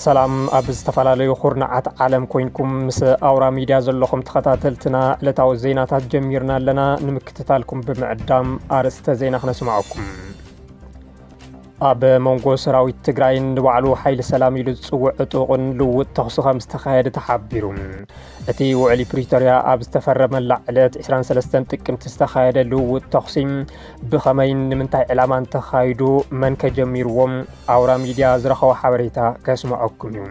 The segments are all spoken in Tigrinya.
ሰላም ኣብ ዝተፈላለዩ ኩርናዓት ዓለም ኮይንኩም ምስ ኣውራ ሚድያ ዘለኹም ተኸታተልትና ዕለታዊ ዜናታት ጀሚርና ኣለና። ንምክትታልኩም ብምዕዳም ኣርእስተ ዜና ክነስማዓኩም። ኣብ መንጎ ሰራዊት ትግራይን ንባዕሉ ሓይሊ ሰላም ኢሉ ዝፅውዕ ዕጡቕን ልውጥ ተኽሲ ከም ዝተኻየደ ተሓቢሩ። እቲ ውዕሊ ፕሪቶርያ ኣብ ዝተፈረመላ ዕለት 23 ጥቅምቲ ዝተኻየደ ልውውጥ ተኹሲ ብኸመይን ንምንታይ ዕላማን ተኻይዱ መን ከጀሚርዎም ኣውራ ሚድያ ዝረኸቦ ሓበሬታ ከስምዐኩም እዩ።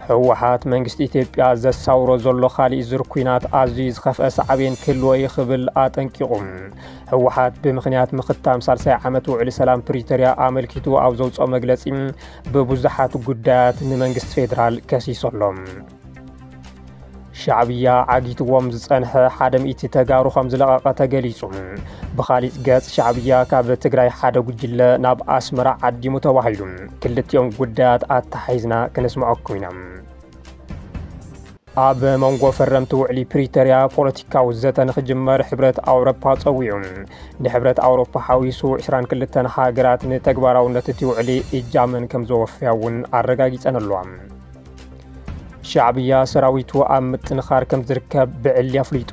ህወሓት መንግስቲ ኢትዮጵያ ዘሳውሮ ዘሎ ካሊእ ዙር ኩናት ኣዝዩ ዝኸፍአ ሳዕቤን ክህልዎ ይኽብል ኣጠንቂቑ። ህወሓት ብምኽንያት ምኽታም ሳልሳይ ዓመት ውዕሊ ሰላም ፕሪቶርያ ኣመልኪቱ ኣብ ዘውፅኦ መግለፂ ብብዙሓት ጉዳያት ንመንግስቲ ፌዴራል ከሲሶ ኣሎ። ሻዕብያ ዓጊትዎም ዝጸንሐ ሓደ ሚእቲ ተጋሩ ከም ዝለቐቐ ተገሊጹ። ብኻሊእ ገጽ ሻዕብያ ካብ ትግራይ ሓደ ጉጅለ ናብ ኣስመራ ዓዲሙ ተባሂሉ። ክልቲኦም ጉዳያት ኣተሓሒዝና ክነስምዐኩም ኢና። ኣብ መንጎ ፈረምቲ ውዕሊ ፕሪቶርያ ፖለቲካዊ ዘተ ንክጅመር ሕብረት ኣውሮፓ ጸዊዑ። ንሕብረት ኣውሮፓ ሓዊሱ ዕስራን ክልተን ሃገራት ንተግባራውነት እቲ ውዕሊ እጃመን ከም ዘወፍያ እውን ኣረጋጊጸን ኣለዋ። ሻዕብያ ሰራዊቱ ኣብ ምጥንኻር ከም ዝርከብ ብዕሊ ኣፍሊጡ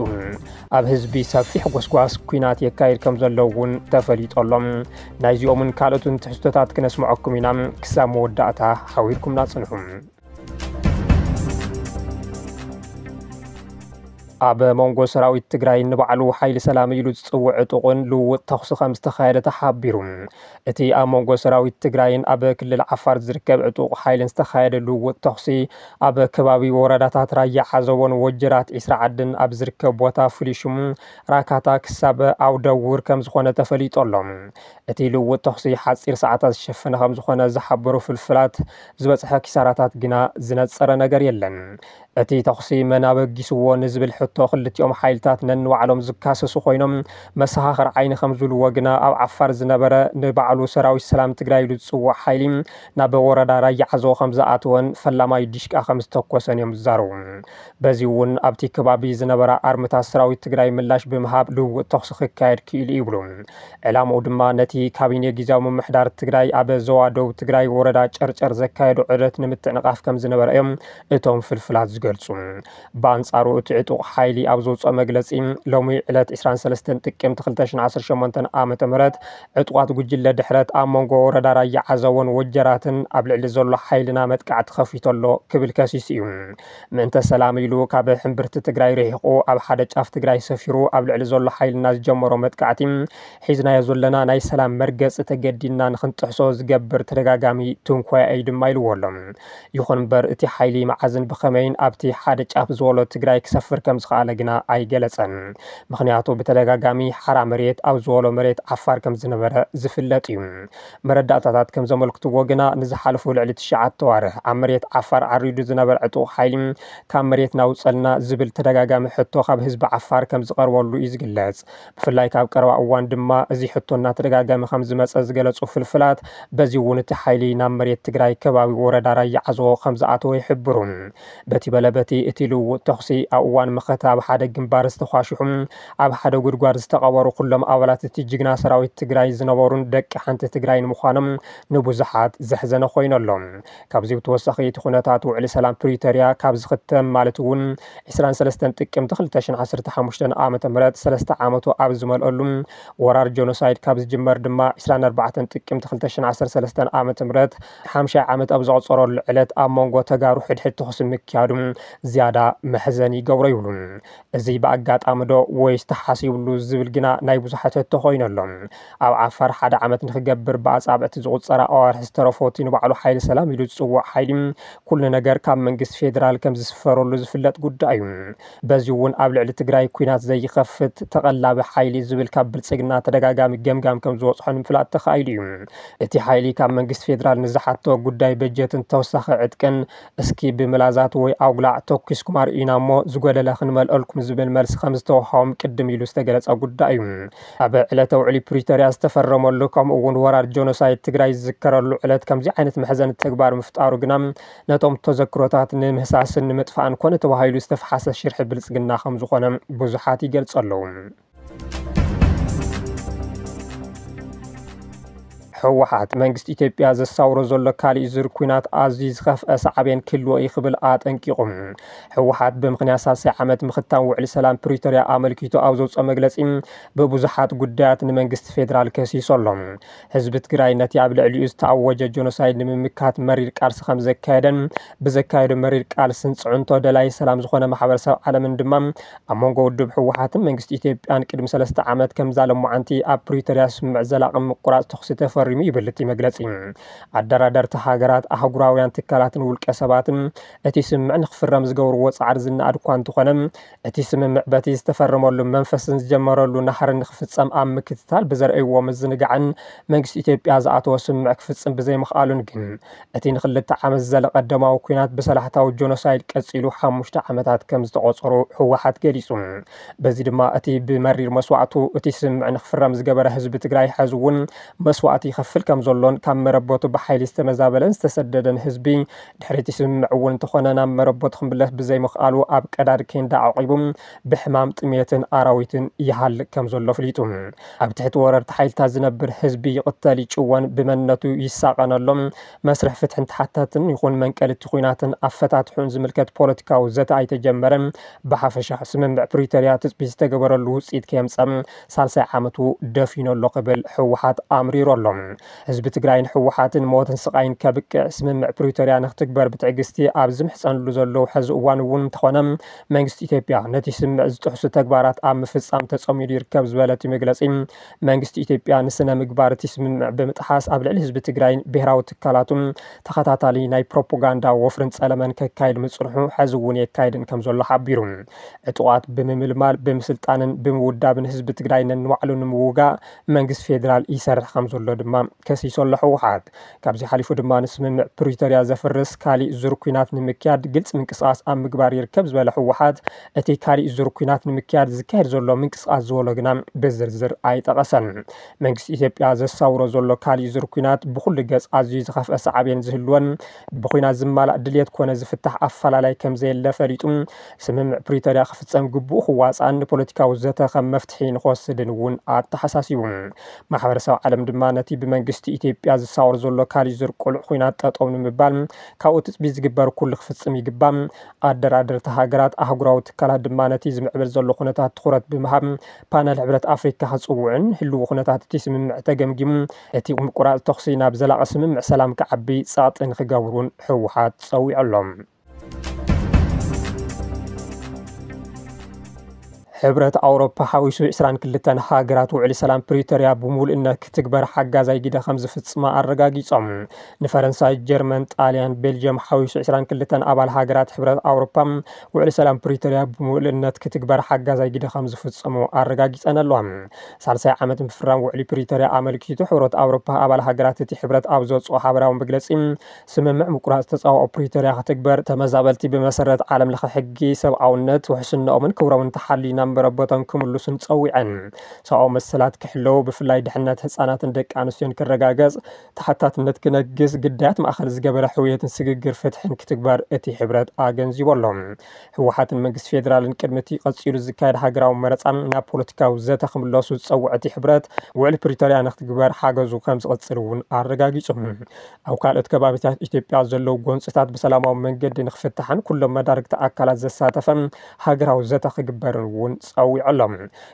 ኣብ ህዝቢ ሰፊሕ ጎስጓስ ኩናት የካይድ ከም ዘሎ እውን ተፈሊጡ ኣሎ። ናይዚኦምን ካልኦትን ትሕዝቶታት ክነስምዐኩም ኢና። ክሳብ መወዳእታ ሓቢርኩምና ጽንሑ። ኣብ መንጎ ሰራዊት ትግራይ ንባዕሉ ሓይሊ ሰላም ኢሉ ዝፅውዕ ዕጡቕን ልውውጥ ተኹሲ ከም ዝተኻየደ ተሓቢሩ። እቲ ኣብ መንጎ ሰራዊት ትግራይን ኣብ ክልል ዓፋር ዝርከብ ዕጡቕ ሓይልን ዝተኻየደ ልውውጥ ተኹሲ ኣብ ከባቢ ወረዳታት ራያ ዓዘቦን ወጀራት ዒስራ ዓድን ኣብ ዝርከብ ቦታ ፍሉይ ሽሙ ራካታ ክሳብ ኣውደውር ከም ዝኾነ ተፈሊጡ ኣሎ። እቲ ልውውጥ ተኹሲ ሓጺር ሰዓታት ዝሸፈነ ከምዝኾነ ዝሓበሩ ፍልፍላት፣ ዝበጽሐ ኪሳራታት ግና ዝነጸረ ነገር የለን። እቲ ተኹሲ መን ኣበጊስዎ ንዝብል ሕቶ ክልቲኦም ሓይልታት ነንባዕሎም ዝካሰሱ ኮይኖም፣ መሰኻኽር ዓይኒ ከምዝብልዎ ግና ኣብ ዓፋር ዝነበረ ንባዕሉ ሰራዊት ሰላም ትግራይ ኢሉ ዝጽውዕ ሓይሊ ናብ ወረዳ ራያ ዓዘቦ ከምዝኣተወን ፈላማይ ዲሽቃ ከምዝተኮሰን እዮም ዝዛረቡ። በዚ'ውን ኣብቲ ከባቢ ዝነበራ ኣርምታት ሰራዊት ትግራይ ምላሽ ብምሃብ ልውውጥ ተኹሲ ክካየድ ክኢሉ እዩ ይብሉ። ዕላምኡ ድማ ነቲ ካቢኔ ጊዚያዊ ምምሕዳር ትግራይ ኣብ ዞባ ደቡብ ትግራይ ወረዳ ጨርጨር ዘካየዶ ዑደት ንምትዕንቓፍ ከም ዝነበረ እዮም እቶም ፍልፍላት ዝገልጹ። ብኣንጻሩ እቲ ዕጡቕ ሓይሊ ኣብ ዘውጽኦ መግለጺ ሎሚ ዕለት 23 ጥቅምቲ 2018 ዓ.ም ዕጡቓት ጉጅለ ድሕረት ኣብ መንጎ ወረዳ ራያ ዓዘቦን ወጀራትን ኣብ ልዕሊ ዘሎ ሓይልና መጥቃዕቲ ከፊቱ ኣሎ ክብል ከሲሱ እዩ። ምእንተ ሰላም ኢሉ ካብ ሕምብርቲ ትግራይ ርሒቑ ኣብ ሓደ ጫፍ ትግራይ ሰፊሩ ኣብ ልዕሊ ዘሎ ሓይልና ዝጀመሮ መጥቃዕቲ ሒዝናዮ ዘለና ናይ ሰላም መርገፂ ተገዲድና ንክንጥሕሶ ዝገብር ተደጋጋሚ ትንኮያ እዩ ድማ ኢልዎ ኣሎ። ይኹን እምበር እቲ ሓይሊ መዓዝን ብኸመይን ኣብቲ ሓደ ጫፍ ዝወሎ ትግራይ ክሰፍር ከምዝኸኣለ ግና ኣይገለፀን። ምኽንያቱ ብተደጋጋሚ ሓራ መሬት ኣብ ዝወሎ መሬት ዓፋር ከምዝነበረ ዝፍለጥ እዩ። መረዳእታታት ከም ዘመልክትዎ ግና ንዝሓለፉ ልዕሊ ትሽዓተ ኣዋርሕ ኣብ መሬት ዓፋር ዓሪዱ ዝነበረ ዕጡቕ ሓይሊ ካብ መሬትና ኣውፀልና ዝብል ተደጋጋሚ ሕቶ ካብ ህዝቢ ዓፋር ከም ዝቐርበሉ እዩ ዝግለፅ። ብፍላይ ካብ ቀረባ እዋን ድማ እዚ ሕቶ እናተደጋገመ ከም ዝመፀ ዝገለፁ ፍልፍላት በዚ እውን እቲ ሓይሊ ናብ መሬት ትግራይ ከባቢ ወረዳ ራያ ዓዘቦ ከም ዝኣተወ ይሕብሩ። በቲ በለ በቲ እቲ ልውውጥ ተኹሲ ኣብ እዋን መኸተ ኣብ ሓደ ግንባር ዝተኳሽሑ ኣብ ሓደ ጉድጓድ ዝተቐበሩ ኩሎም ኣባላት እቲ ጅግና ሰራዊት ትግራይ ዝነበሩን ደቂ ሓንቲ ትግራይን ምዃኖም ንብዙሓት ዘሕዘነ ኮይኑ ኣሎ። ካብዚ ብተወሳኺ እቲ ኩነታት ውዕሊ ሰላም ፕሪቶርያ ካብ ዝኽተም ማለት እውን ዕስራን ሰለስተን ጥቅምቲ ክልተ ሽሕን ዓሰርተ ሓሙሽተን ዓመተ ምህረት ሰለስተ ዓመቱ ኣብ ዝመልኦሉ ወራር ጆኖሳይድ ካብ ዝጅመር ድማ ዕስራን ኣርባዕተን ጥቅምቲ ክልተ ሽሕን ዓሰርተ ሰለስተን ዓመተ ምህረት ሓምሻይ ዓመት ኣብ ዘቑፀረሉ ዕለት ኣብ መንጎ ተጋሩ ሕድሕድ ተኹሲ ምክያዱ ዝያዳ መሕዘኒ ይገብሮ ይብሉ። እዚ ብኣጋጣሚ ዶ ወይስ ተሓሲብሉ ዝብል ግና ናይ ብዙሓት ሕቶ ኮይኑ ኣሎ። ኣብ ዓፋር ሓደ ዓመት ንኽገብር ብኣጻብዕቲ ዝቑጸራ ኣዋርሕ ዝተረፎ እቲ ንባዕሉ ሓይሊ ሰላም ኢሉ ዝጽውዕ ሓይሊ ኩሉ ነገር ካብ መንግስቲ ፌደራል ከም ዝስፈረሉ ዝፍለጥ ጉዳይ እዩ። በዚ'ውን ኣብ ልዕሊ ትግራይ ኲናት ዘይኸፍት ተቐላቢ ሓይሊ ዝብል ካብ ብልጽግና ተደጋጋሚ ገምጋም ከም ዝወጽሖ ንምፍላጥ ተኻኢሉ እዩ። እቲ ሓይሊ ካብ መንግስቲ ፌደራል ንዝሓቶ ጉዳይ በጀትን ተወሳኺ ዕጥቅን እስኪ ብምላዛት ወይ ኣጉላዕ ተኲስኩም ኣርእዩና እሞ ዝጎደለ ክንመልኦልኩም ዝብል መልሲ ከምዝተወሃቦም ቅድም ኢሉ ዝተገለጸ ጉዳይ እዩ። ኣብ ዕለተ ውዕሊ ፕሪቶርያ ዝተፈረመሉ ከምኡ እውን ወራር ጆኖሳይድ ትግራይ ዝዝከረሉ ዕለት ከምዚ ዓይነት መሕዘኒ ተግባር ምፍጣሩ ግና ነቶም ተዘክሮታት ንምህሳስን ንምጥፋእን ኮነ ተባሂሉ ዝተፍሓሰ ሽርሒ ብልጽግና ከምዝኾነ ብዙሓት ይገልጹ ኣለዉ። ህወሓት መንግስቲ ኢትዮጵያ ዘሳውሮ ዘሎ ካሊእ ዙር ኩናት ኣዝዩ ዝኸፍአ ሳዕቤን ክህልዎ እዩ ክብል ኣጠንቂቑ። ህወሓት ብምኽንያት ሳልሳይ ዓመት ምኽታም ውዕሊ ሰላም ፕሪቶርያ ኣመልኪቱ ኣብ ዘውፅኦ መግለፂ ብብዙሓት ጉዳያት ንመንግስቲ ፌዴራል ከሲሶ ኣሎ። ህዝቢ ትግራይ ነቲ ኣብ ልዕሊኡ ዝተኣወጀ ጆኖሳይድ ንምምካት መሪር ቃልሲ ከም ዘካየደን ብዘካየዶ መሪር ቃልስን ፅዕንቶ ደላይ ሰላም ዝኾነ ማሕበረሰብ ዓለምን ድማ ኣብ መንጎ ውድብ ህወሓትን መንግስቲ ኢትዮጵያን ቅድሚ ሰለስተ ዓመት ከምዛ ሎማዓንቲ ኣብ ፕሪቶሪያ ስምምዕ ዘላቒ ምቁራፅ ተኹሲ ተፈሪሙ ይብል እቲ መግለፂ። ኣደራደርቲ ሃገራት፣ ኣህጉራውያን ትካላትን ውልቀ ሰባትን እቲ ስምምዕ ንክፍረም ዝገብርዎ ፃዕሪ ዝነኣድ እኳ እንተኾነ እቲ ስምምዕ በቲ ዝተፈረመሉ መንፈስን ዝጀመረሉ ናህርን ንክፍፀም ኣብ ምክትታል ብዘርእይዎ ምዝንጋዕን መንግስቲ ኢትዮጵያ ዝኣተዎ ስምምዕ ክፍፅም ብዘይምኽኣሉን ግን እቲ ንክልተ ዓመት ዝዘለቐ ደማዊ ኲናት ብሰላሕታዊ ጆኖሳይድ ቀፂሉ ሓሙሽተ ዓመታት ከምዝተቖፀሩ ህወሓት ገሊፁ። በዚ ድማ እቲ ብመሪር መስዋእቱ እቲ ስምምዕ ንክፍረም ዝገበረ ህዝቢ ትግራይ ሐዚ እውን መስዋእቲ ይኸፍል ከምዘሎን ካብ መረበቱ ብሓይሊ ዝተመዛበለን ዝተሰደደን ህዝቢ ድሕሪ እቲ ስምምዕ እውን እንተኾነ ናብ መረበቱ ክምለስ ብዘይምኽኣሉ ኣብ ቀዳድ ኬንዳ ዓቂቡ ብሕማም፣ ጥምየትን ኣራዊትን ይሃልቅ ከም ዘሎ ኣፍሊጡ። ኣብ ትሕቲ ወረርቲ ሓይልታት ዝነብር ህዝቢ ይቕተል፣ ይጭወን ብመንነቱ ይሳቐን ኣሎ። መስርሕ ፍትሕን ተሓታትን ይኹን መንቀሊ እቲ ኲናትን ኣፈታትሕኡን ዝምልከት ፖለቲካዊ ዘተ ኣይተጀመረን። ብሓፈሻ ስምምዕ ፕሪቶርያ ትፅቢት ዝተገበረሉ ውፅኢት ከየምፀ ሳልሳይ ዓመቱ ደፊኑ ኣሎ ክብል ህወሓት ኣምሪሩ ኣሎ። ህዝቢ ትግራይን ህወሓትን ሞትን ስቓይን ከብቅዕ ስምምዕ ፕሪቶርያ ንክትግበር ብትዕግስቲ ኣብ ዝምሕፀንሉ ዘለዉ ሐዚ እዋን እውን እንተኾነ መንግስቲ ኢትዮጵያ ነቲ ስምምዕ ዝጥሕሱ ተግባራት ኣብ ምፍፃም ተፀሚዱ ይርከብ ዝበለ እቲ መግለፂ መንግስቲ ኢትዮጵያ ንስነ ምግባር እቲ ስምምዕ ብምጥሓስ ኣብ ልዕሊ ህዝቢ ትግራይን ብሄራዊ ትካላቱን ተኸታታሊ ናይ ፕሮፖጋንዳ ወፍርን ፀለመን ከካይድ ምፅንሑ ሐዚ እውን የካይድን ከም ዘሎ ሓቢሩ። ዕጡቓት ብምምልማል፣ ብምስልጣንን ብምውዳብን ህዝቢ ትግራይ ነንባዕሉ ንምውጋእ መንግስቲ ፌደራል ይሰርሕ ከምዘሎ ድማ ከሲሱ ኣሎ ህወሓት። ካብዚ ሓሊፉ ድማ ንስምምዕ ፕሪቶርያ ዘፍርስ ካሊእ ዙር ኲናት ንምክያድ ግልፂ ምንቅስቓስ ኣብ ምግባር ይርከብ ዝበለ ህወሓት እቲ ካሊእ ዙር ኲናት ንምክያድ ዝካየድ ዘሎ ምንቅስቓስ ዝበሎ ግና ብዝርዝር ኣይጠቐሰን። መንግስቲ ኢትዮጵያ ዘሳውሮ ዘሎ ካሊእ ዙር ኲናት ብኹሉ ገፅ ኣዝዩ ዝኸፍኣ ሳዕቤን ዝህልዎን ብኲናት ዝማላእ ድልየት ኮነ ዝፍታሕ ኣፈላላይ ከምዘየለ ፈሊጡ ስምምዕ ፕሪቶርያ ክፍፀም ግቡኡ ክዋፃእን ንፖለቲካዊ ዘተ ከም መፍትሒ ንክወስድን እውን ኣተሓሳሲቡ። ማሕበረሰብ ዓለም ድማ ነቲ ብመንግስቲ ኢትዮጵያ ዝሳወር ዘሎ ካሊእ ዙር ቅሉዕ ኹናት ጠጠው ንምባል ካብኡ ትፅቢት ዝግበር ኩሉ ክፍፅም ይግባእ። ኣደራደርቲ ሃገራት፣ ኣህጉራዊ ትካላት ድማ ነቲ ዝምዕብል ዘሎ ኩነታት ትኹረት ብምሃብ ፓነል ሕብረት ኣፍሪካ ክፅውዑን ህልዊ ኩነታት እቲ ስምምዕ ተገምጊሙ እቲ ምቁራፅ ተኹሲ ናብ ዘላቒ ስምምዕ ሰላም ክዓቢ ፀቕጢ ንክገብሩን ህወሓት ፀዊዑ ኣሎ። ሕብረት ኣውሮፓ ሓዊሱ 22 ሃገራት ውዕሊ ሰላም ፕሪቶርያ ብምሉእነት ክትግበር ሓጋዛይ ግደ ከም ዝፍፅማ ኣረጋጊፆም ንፈረንሳይ ጀርመን ጣልያን ቤልጅየም ሓዊሱ 22 ኣባል ሃገራት ሕብረት ኣውሮፓ ውዕሊ ሰላም ፕሪቶርያ ብምሉእነት ክትግበር ሓጋዛይ ግደ ከም ዝፍፅሙ ኣረጋጊፀን ኣለዋ ሳልሳይ ዓመት ምፍራም ውዕሊ ፕሪቶርያ ኣመልኪቱ ሕብረት ኣውሮፓ ኣባል ሃገራት እቲ ሕብረት ኣብ ዘውፅኦ ሓበራዊ መግለፂ ስምምዕ ምቁራጽ ተጻብኦ ፕሪቶርያ ክትግበር፣ ተመዛበልቲ ብመሰረት ዓለም ለኸ ሕጊ ሰብኣውነት ውሕስነኦምን ክብሮምን ተሓልዩ ናብ መረበቶም ክምሉሱን ጸዊዐን። ሰብኣዊ መሰላት ክሕለው፣ ብፍላይ ድሕነት ህጻናትን ደቂ ኣንስትዮን ክረጋገጽ፣ ተሓታትነት ክነግስ፣ ግዳያት ማእከል ዝገበረ ሕውየትን ስግግር ፍትሕን ክትግበር እቲ ሕብረት ኣገንዚቡ ኣሎ። ህወሓትን መንግስቲ ፌደራልን ቅድሚ እቲ ቀጺሉ ዝካየድ ሃገራዊ መረጻ ናብ ፖለቲካዊ ዘተ ክምለሱ ዝጸውዐ እቲ ሕብረት፣ ውዕሊ ፕሪቶርያ ንክትግበር ሓገዙ ከምዝቕጽል እውን ኣረጋጊጹ። ኣብ ካልኦት ከባቢታት ኢትዮጵያ ዘለዉ ጎንፅታት ብሰላማዊ መንገዲ ንክፍታሕን ኩሎም መዳርግቲ ኣካላት ዘሳተፈ ሃገራዊ ዘተ ክግበርን እውን ፀዊዑ ኣሎ።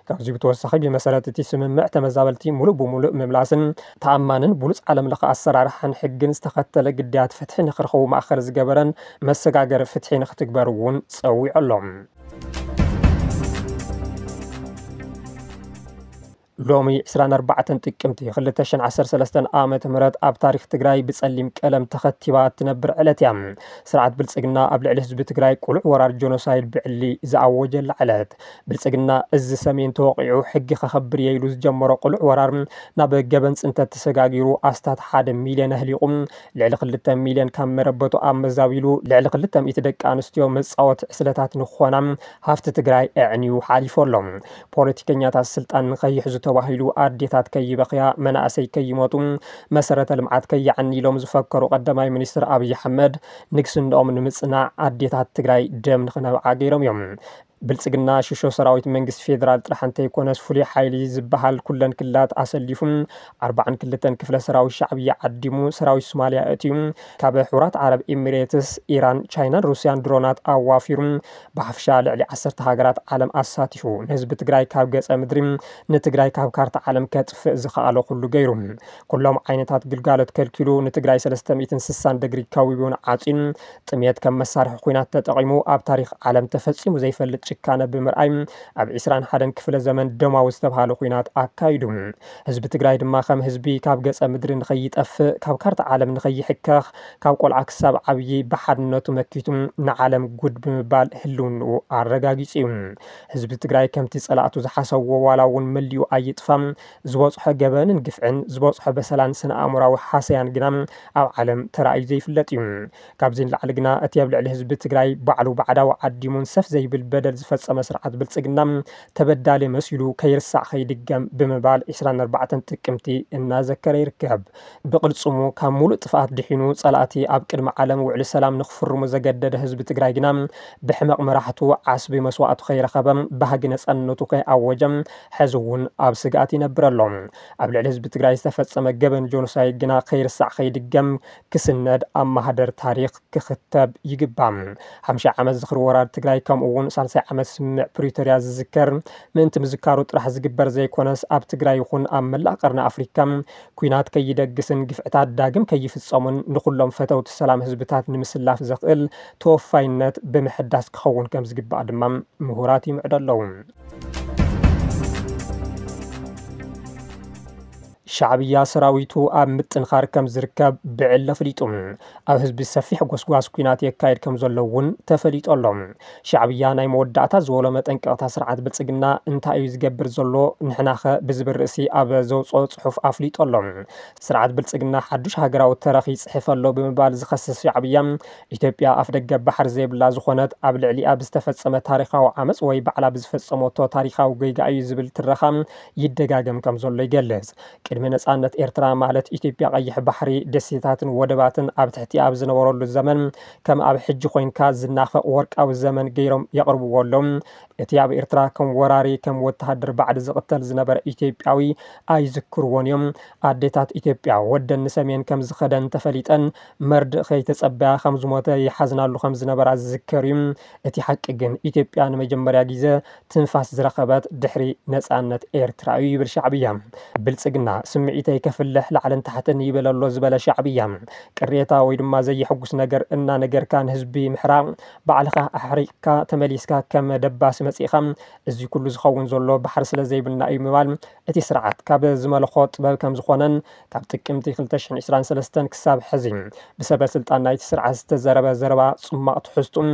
ካብዚ ብተወሳኺ ብመሰረት እቲ ስምምዕ ተመዛበልቲ ሙሉእ ብሙሉእ ምምላስን ተኣማንን ብሉፅ ዓለም ለኸ ኣሰራርሓን ሕግን ዝተኸተለ ግዳያት ፍትሒ ንክረኽቡ ማእኸል ዝገበረን መሰጋገሪ ፍትሒ ንክትግበር እውን ፀዊዑ ኣሎ። ሎሚ ዕስራን ኣርባዕተን ጥቅምቲ ክልተ ሽሕን ዓሰርተ ሰለስተን ዓመተ ምህረት ኣብ ታሪኽ ትግራይ ብፀሊም ቀለም ተኸቲባ እትነብር ዕለት እያ። ስርዓት ብልፅግና ኣብ ልዕሊ ህዝቢ ትግራይ ቁሉዕ ወራር ጆኖሳይድ ብዕሊ ዝኣወጀላ ዕለት። ብልፅግና እዝ ሰሜን ተወቒዑ ሕጊ ከኸብር እየ ኢሉ ዝጀመሮ ቁሉዕ ወራር ናብ ገበን ፅንተት ተሰጋጊሩ ኣስታት ሓደ ሚልየን ኣህሊቑ ልዕሊ ክልተ ሚልየን ካብ መረበቱ ኣመዛቢሉ ልዕሊ ክልተ ሚእቲ ደቂ ኣንስትዮ መፃወቲ ዕስለታት ንክኾና ሃፍቲ ትግራይ ኣዕንዩ ሓሊፉ ኣሎ። ፖለቲከኛታት ስልጣን ንከይሕዙ ተባሂሉ ኣዴታት ከይበኽያ፣ መናእሰይ ከይሞቱ፣ መሰረተ ልምዓት ከይዓኒ ኢሎም ዝፈከሩ ቀዳማይ ሚኒስትር ኣብይ ኣሕመድ ንግስንኦም ንምፅናዕ ኣዴታት ትግራይ ደም ንክነብዓ ገይሮም እዮም። ብልፅግና ሽሾ ሰራዊት መንግስቲ ፌዴራል ጥራሕ እንተይኮነስ ፍሉይ ሓይሊ ዝብሃል ኩለን ክልላት ኣሰሊፉ ኣርብዓን ክልተን ክፍለ ሰራዊት ሻዕብያ ዓዲሙ ሰራዊት ሱማሊያ ኣእትዩ ካብ ሕቡራት ዓረብ ኢሚሬትስ፣ ኢራን፣ ቻይናን ሩሲያን ድሮናት ኣዋፊሩ ብሓፈሻ ልዕሊ ዓሰርተ ሃገራት ዓለም ኣሳቲፉ ንህዝቢ ትግራይ ካብ ገፀ ምድሪ ንትግራይ ካብ ካርታ ዓለም ከጥፍእ ዝኸኣሎ ኩሉ ገይሩ ኩሎም ዓይነታት ግልጋሎት ከልኪሉ ንትግራይ ሰለስተ ሚእትን ስሳን ደግሪ ከዊቡን ዓፅዩን ጥምየት ከም መሳርሒ ኩናት ተጠቒሙ ኣብ ታሪክ ዓለም ተፈፂሙ ዘይፈልጥ ጭካነ ብምርኣይ ኣብ ዒስራን ሓደን ክፍለ ዘመን ደማዊ ዝተብሃለ ኩናት ኣካይዱ። ህዝቢ ትግራይ ድማ ከም ህዝቢ ካብ ገፀ ምድሪ ንኸይጠፍእ ካብ ካርታ ዓለም ንኸይሕከኽ ካብ ቆልዓ ክሳብ ዓብዪ ብሓድነቱ መኪቱ ንዓለም ጉድ ብምባል ህልውንኡ ኣረጋጊፁ ዩ። ህዝቢ ትግራይ ከምቲ ፀላእቱ ዝሓሰብዎ ዋላ ውን መሊኡ ኣይጥፋ ዝበፅሖ ገበንን ግፍዕን ዝበፅሖ በሰላን ስነ ኣእምሮዊ ሃሰያን ግና ኣብ ዓለም ተራእዩ ዘይፍለጥ ዩ። ካብዚ ንላዕሊ ግና እቲ ኣብ ልዕሊ ህዝቢ ትግራይ ባዕሉ ባዕዳዊ ዓዲሙን ሰፍ ዘይብል በደል ዝፈፀመ ስርዓት ብልፅግና ተበዳሊ መሲሉ ከይርሳዕ ከይድገም ብምባል ዕስራን ኣርባዕተን ጥቅምቲ እናዘከረ ይርከብ። ብቕልፅሙ ካብ ሙሉእ ጥፍኣት ድሒኑ ፀላእቲ ኣብ ቅድሚ ዓለም ውዕሊ ሰላም ንክፍርሙ ዘገደደ ህዝቢ ትግራይ ግና ብሕመቕ መራሕቱ ዓስቢ መስዋእቱ ከይረኸበ ባህጊ ነፃነቱ ከይኣወጀ ሐዚ እውን ኣብ ስግኣት ይነብር ኣሎ። ኣብ ልዕሊ ህዝቢ ትግራይ ዝተፈፀመ ገበን ጆኖሳይድ ግና ከይርሳዕ ከይድገም ክስነድ ኣብ ማህደር ታሪኽ ክኽተብ ይግባእ። ሓምሻይ ዓመት ዝኽሪ ወራር ትግራይ ከምኡ እውን ሳልሳይ ዓመት ስምምዕ ፕሪቶሪያ ዝዝከር ምእንቲ ምዝካሩ ጥራሕ ዝግበር ዘይኮነስ ኣብ ትግራይ ይኹን ኣብ መላእ ቀርኒ ኣፍሪካ ኲናት ከይደግስን ግፍዕታት ዳግም ከይፍጸሙን ንኹሎም ፈተውቲ ሰላም ህዝብታት ንምስላፍ ዘኽእል ተወፋይነት ብምሕዳስ ክኸውን ከም ዝግባእ ድማ ምሁራት ይምዕዱ ኣለዉ። ሻዕብያ ሰራዊቱ ኣብ ምጥንኻር ከም ዝርከብ ብዕሊ ኣፍሊጡ። ኣብ ህዝቢ ሰፊሕ ጎስጓስ ኩናት የካየድ ከም ዘሎ እውን ተፈሊጡ ኣሎ። ሻዕብያ ናይ መወዳእታ ዝበሎ መጠንቀቕታ ስርዓት ብልጽግና እንታይ እዩ ዝገብር ዘሎ ንሕናኸ ብዝብል ርእሲ ኣብ ዘውጽኦ ጽሑፍ ኣፍሊጡ ኣሎ። ስርዓት ብልጽግና ሓዱሽ ሃገራዊ ተረኽ ይጽሕፍ ኣሎ ብምባል ዝኸስስ ሻዕብያ፣ ኢትዮጵያ ኣፍደገ ባሕሪ ዘይብላ ዝኾነት ኣብ ልዕሊኣ ብዝተፈጸመ ታሪኻዊ ዓመጽ ወይ ባዕላ ብዝፈጸመቶ ታሪኻዊ ጌጋ እዩ ዝብል ትረኻ ይደጋገም ከም ዘሎ ይገልጽ። ቅድሚ ነጻነት ኤርትራ ማለት ኢትዮጵያ ቀይሕ ባሕሪ ደሴታትን ወደባትን ኣብ ትሕቲ ኣብ ዝነበረሉ ዘመን ከም ኣብ ሕጂ ኮንካ ዝናፈቕ ወርቃዊ ዘመን ገይሮም የቕርብዎ ኣሎም። እቲ ኣብ ኤርትራ ከም ወራሪ ከም ወተሃደር ባዕዲ ዝቕተል ዝነበረ ኢትዮጵያዊ ኣይዝክርዎን እዮም። ኣዴታት ኢትዮጵያ ወደን ንሰሜን ከም ዝኸደን ተፈሊጠን መርድእ ከይተጸበያ ከም ዝሞተ ይሓዝናሉ ከም ዝነበራ ዝዝከር እዩ። እቲ ሓቂ ግን ኢትዮጵያ ንመጀመርያ ግዜ ትንፋስ ዝረኸበት ድሕሪ ነፃነት ኤርትራ እዩ ይብል ሻዕብያ። ብልፅግና ስምዒተይ ከፍልሕ ላዕልን ታሕትን ይብል ኣሎ ዝበለ ሻዕብያ፣ ቅሬታ ወይ ድማ ዘየሕጉስ ነገር እናነገርካ ንህዝቢ ምሕራቕ፣ ባዕልኻ ኣሕሪቕካ ተመሊስካ ከም ደባሲ መፂእኻ እዚ ኩሉ ዝኸውን ዘሎ ባሕሪ ስለዘይብልና እዩ ምባል እቲ ስርዓት ካብ ዝመለኾ ጥበብ ከምዝኾነን ካብ ጥቅምቲ ክልተ ሽሕን ዒስራን ሰለስተን ክሳብ ሕዚ ብሰበ ስልጣን ናይቲ ስርዓት ዝተዘረበ ዘረባ ጽሟቕ ትሕዝትኡ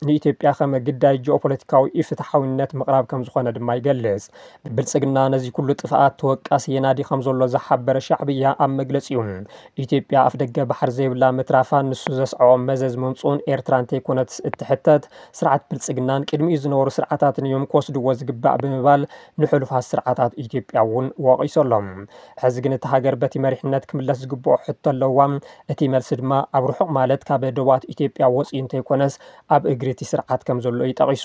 ንኢትዮጵያ ከም ግዳይ ጂኦፖለቲካዊ ኢፍትሓዊነት ምቕራብ ከም ዝኾነ ድማ ይገልጽ። ብብልጽግና ነዚ ኩሉ ጥፍኣት ተወቃሲ የናዲ ከም ዘሎ ዝሓበረ ሻዕብያ ኣብ መግለጺኡ ኢትዮጵያ ኣፍደገ ባሕሪ ዘይብላ ምትራፋን ንሱ ዘስዐቦ መዘዝ ምምጽኡን ኤርትራ እንተይኮነትስ እትሕተት ስርዓት ብልጽግናን ቅድሚኡ ዝነበሩ ስርዓታትን እዮም ክወስድዎ ዝግባእ ብምባል ንሕሉፋት ስርዓታት ኢትዮጵያ እውን ወቒሱ ኣሎ። ሕዚ ግን እታ ሃገር በቲ መሪሕነት ክምለስ ዝግብኦ ሕቶ ኣለዋ። እቲ መልሲ ድማ ኣብ ርሑቕ ማለት ካብ ደቡባት ኢትዮጵያ ወፂኡ እንተይኮነስ ኣብ እግሪ እቲ ስርዓት ከም ዘሎ እዩ ጠቒሱ።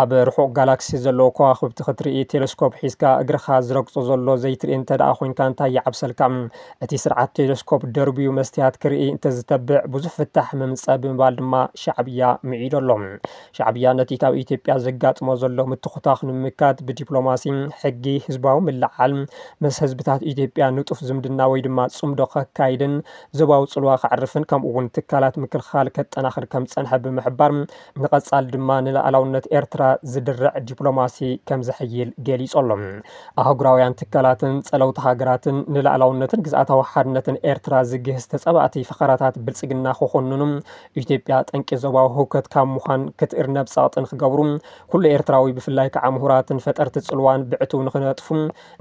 ኣብ ርሑቕ ጋላክሲ ዘለዉ ከዋኽብቲ ክትርኢ ቴለስኮፕ ሒዝካ እግርኻ ዝረግፆ ዘሎ ዘይትርኢ እንተድኣ ኮይንካ እንታይ ይዓብሰልካ? እቲ ስርዓት ቴለስኮፕ ደርብዩ መስትያት ክርኢ እንተዝተብዕ ብዙሕ ፍታሕ ምምፀእ ብምባል ድማ ሻዕብያ ምዒዱ ኣሎ። ሻዕብያ ነቲ ካብ ኢትዮጵያ ዘጋጥሞ ዘሎ ምትኹታኽ ንምምካት ብዲፕሎማሲ፣ ሕጊ፣ ህዝባዊ ምልዕዓል፣ ምስ ህዝብታት ኢትዮጵያ ንጡፍ ዝምድና ወይ ድማ ጽምዶ ከካይድን ዞባዊ ጽልዋ ከዕርፍን ከምኡ'ውን ትካላት ምክልኻል ከጠናኽር ከም ዝጸንሐ ብምሕባር ንቐጻሊ ድማ ንላኣላውነት ኤርትራ ዝድርዕ ዲፕሎማሲ ከም ዘሕይል ገሊጹ ኣሎ። ኣህጉራውያን ትካላትን ጸለውቲ ሃገራትን ንላኣላውነትን ግዝኣታዊ ሓድነትን ኤርትራ ዝግህስ ተጻባእቲ ፈኸራታት ብልጽግና ክኹንኑ ኢትዮጵያ ጠንቂ ዞባዊ ህውከት ካብ ምዃን ክትእርነብ ጸቕጢ ንክገብሩ፣ ኩሉ ኤርትራዊ ብፍላይ ከኣ ምሁራትን ፈጠርቲ ጽልዋን ብዕቱብ ንክነጥፉ፣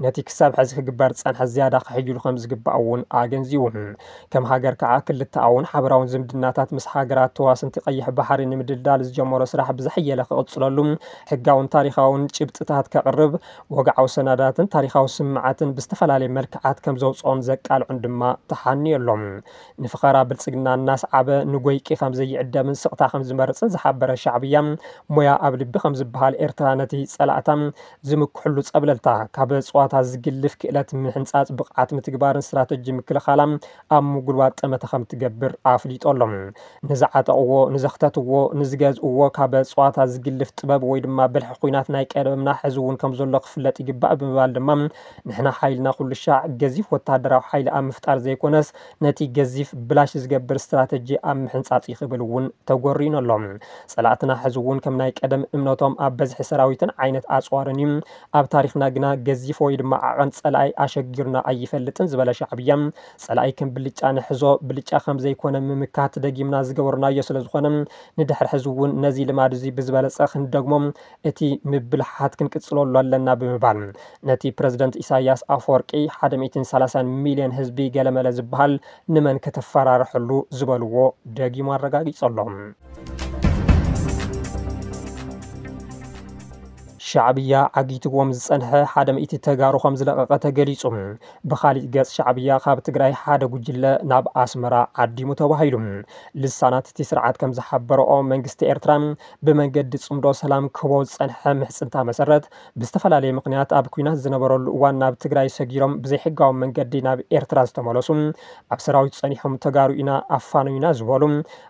ነቲ ክሳብ ሐዚ ክግበር ዝጸንሐ ዝያዳ ከሐይሉ ከምዝግባእ እውን ኣገንዚቡ። ከም ሃገር ከኣ ክልተኣውን ሓበራውን ዝምድናታት ምስ ሃገራት ተዋስንቲ ቀይሕ ባሕሪ ንምድልዳል ዝጀመሮ ስራሕ ብዝሐየለ ክቕጽለሉ ሕጋውን ታሪኻውን ጭብጥታት ከቕርብ፣ ወግዓዊ ሰነዳትን ታሪኻዊ ስምምዓትን ብዝተፈላለየ መልክዓት ከምዘውጽኦን ዘቃልዖን ድማ ተሓንዮ ኣሎ። ንፈኸራ ብልጽግና እናስዓበ ንጎይቂ ከም ዘይዕደምን ስቕታ ከም ዝመርጽን ዝሓበረ ሻዕብያ፣ ሞያ ኣብ ልቢ ከም ዝበሃል ኤርትራ ነቲ ጸላእታ ዝምክሕሉ ጸብለልታ፣ ካብ ጸዋታ ዝግልፍ ክእለት ምሕንጻጽ፣ ብቕዓት ምትግባርን ስትራተጂ ምክልኻላ ኣብ ምጉልባት ጠመተ ከም ትገብር ኣፍሊጦ ኣሎ። ንዝዓጠቕዎ፣ ንዘኽተትዎ፣ ንዝገዝእዎ ካብ ጸዋታ ዝግልፍ ጥበብ ወይ ድማ ብልሒ ኩናት ናይ ቀደምና ሕዚ እውን ከም ዘሎ ክፍለጥ ይግባእ ብምባል ድማ ንሕና ሓይልና ኩሉሻዕ ገዚፍ ወተሃደራዊ ሓይሊ ኣብ ምፍጣር ዘይኮነስ ነቲ ገዚፍ ብላሽ ዝገብር ስትራተጂ ኣብ ምሕንጻጽ እዩ ክብል እውን ተጎርዩኑ ኣሎ። ጸላእትና ሕዚ እውን ከም ናይ ቀደም እምነቶም ኣብ በዝሒ ሰራዊትን ዓይነት ኣጽዋርን እዩ። ኣብ ታሪኽና ግና ገዚፍ ወይ ድማ ዓቐን ጸላኢ ኣሸጊሩና ኣይፈልጥን ዝበለ ሻዕብያ፣ ጸላኢ ከም ብልጫ ንሕዞ ብልጫ ከም ዘይኮነ ምምካት ደጊምና ዝገበርናዮ ስለ ዝኾነ ንድሕር ሕዚ እውን ነዚ ልማድ እዚ ብዝበለጸ ክንደግሞ እቲ ምብልሓሓት ክንቅፅለሉ ኣለና ብምባል ነቲ ፕረዚደንት ኢሳይያስ ኣፈወርቂ ሓደ ሚእትን ሰላሳን ሚልዮን ህዝቢ ገለመለ ዝበሃል ንመን ከተፈራርሐሉ ዝበልዎ ደጊሙ ኣረጋጊፁ ኣሎ። ሻዕብያ ዓጊትዎም ዝፀንሐ ሓደ ሚእቲ ተጋሩ ከምዝለቐቐ ተገሊፁ። ብኻሊእ ገፅ ሻዕብያ ካብ ትግራይ ሓደ ጉጅለ ናብ ኣስመራ ዓዲሙ ተባሂሉ። ልሳናት እቲ ስርዓት ከምዝሓበረኦ መንግስቲ ኤርትራ ብመንገዲ ፅምዶ ሰላም ክህቦ ዝፀንሐ ምሕፅንታ መሰረት ብዝተፈላለየ ምኽንያት ኣብ ኲናት ዝነበረሉ እዋን ናብ ትግራይ ሰጊሮም ብዘይሕጋዊ መንገዲ ናብ ኤርትራ ዝተመለሱ ኣብ ሰራዊት ፀኒሖም ተጋሩ ኢና ኣፋኖዩና ዝበሉ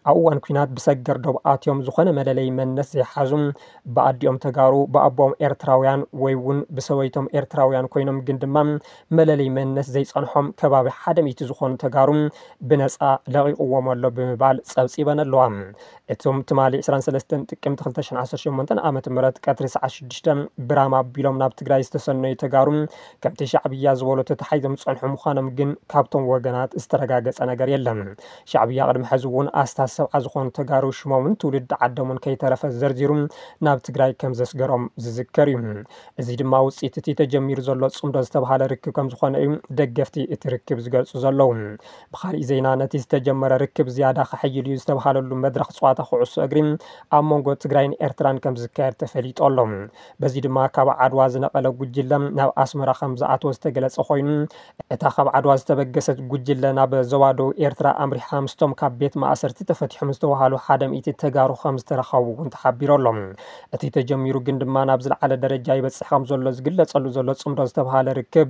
ኣብ እዋን ኲናት ብሰገር ዶብ ኣትዮም ዝኾነ መለለይ መንነት ዘይሓዙ ብኣዲኦም ተጋሩ ብኣቦኦም ኤርትራውያን ወይ እውን ብሰበይቶም ኤርትራውያን ኮይኖም ግን ድማ መለለይ መንነት ዘይፀንሖም ከባቢ ሓደ ሚእቲ ዝኾኑ ተጋሩ ብነፃ ለቒቑዎም ኣሎ ብምባል ፀብፂበን ኣለዋ። እቶም ትማሊ ዕስራን ሰለስተን ጥቅምቲ ክልተ ሽሕን ዓሰርተ ሸሞንተን ዓመተ ምህረት ቀትሪ ሰዓት ሽዱሽተ ብራም ኣቢሎም ናብ ትግራይ ዝተሰነዩ ተጋሩ ከምቲ ሻዕብያ ዝበሎ ተታሓሒዞም ዝፀንሑ ምዃኖም ግን ካብቶም ወገናት ዝተረጋገፀ ነገር የለን። ሻዕብያ ቅድሚ ሕዚ እውን ኣስታት ሰብዓ ዝኾኑ ተጋሩ ሽሞምን ትውልዲ ዓዶምን ከይተረፈ ዘርዚሩ ናብ ትግራይ ከምዘስገሮም ዝዝከር እዩ። እዚ ድማ ውፅኢት እቲ ተጀሚሩ ዘሎ ፅምዶ ዝተብሃለ ርክብ ከምዝኾነ እዩ ደገፍቲ እቲ ርክብ ዝገልፁ ዘለዉ። ብኻሊእ ዜና ነቲ ዝተጀመረ ርክብ ዝያዳ ከሕይል እዩ ዝተብሃለሉ መድረኽ ፀዋታ ኩዕሶ እግሪ ኣብ መንጎ ትግራይን ኤርትራን ከምዝካየድ ተፈሊጡ ኣሎ። በዚ ድማ ካብ ዓድዋ ዝነቐለ ጉጅለ ናብ ኣስመራ ከምዝኣተወ ዝተገለፀ ኮይኑ እታ ካብ ዓድዋ ዝተበገሰት ጉጅለ ናብ ዞባ ደቡብ ኤርትራ ኣምሪሓ ምስቶም ካብ ቤት ማእሰርቲ ተፈቲሖም ዝተብሃሉ ሓደ ሚእቲ ተጋሩ ከምዝተረኸቡ እውን ተሓቢሩ ኣሎ። እቲ ተጀሚሩ ግን ድማ ናብ ዝለዓለ ደረጃ ይበፅሕ ከምዘሎ ዝግለፀሉ ዘሎ ፅምዶ ዝተብሃለ ርክብ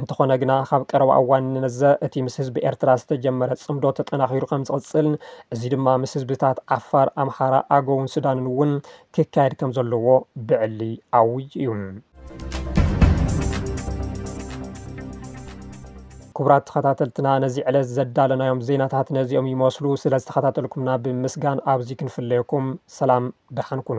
እንተኾነ ግና ካብ ቀረባ እዋን ንነዘ እቲ ምስ ህዝቢ ኤርትራ ዝተጀመረ ጽምዶ ተጠናኺሩ ከም ዝቕጽል፣ እዚ ድማ ምስ ህዝብታት ዓፋር፣ ኣምሓራ፣ ኣገውን ሱዳንን እውን ክካየድ ከም ዘለዎ ብዕሊ ኣዊጁ እዩ። ክቡራት ተኸታተልትና ነዚ ዕለት ዘዳለናዮም ዜናታት ነዚኦም ይመስሉ። ስለ ዝተኸታተልኩምና ብምስጋን ኣብዚ ክንፍለየኩም ሰላም ደሓን ኩኑ።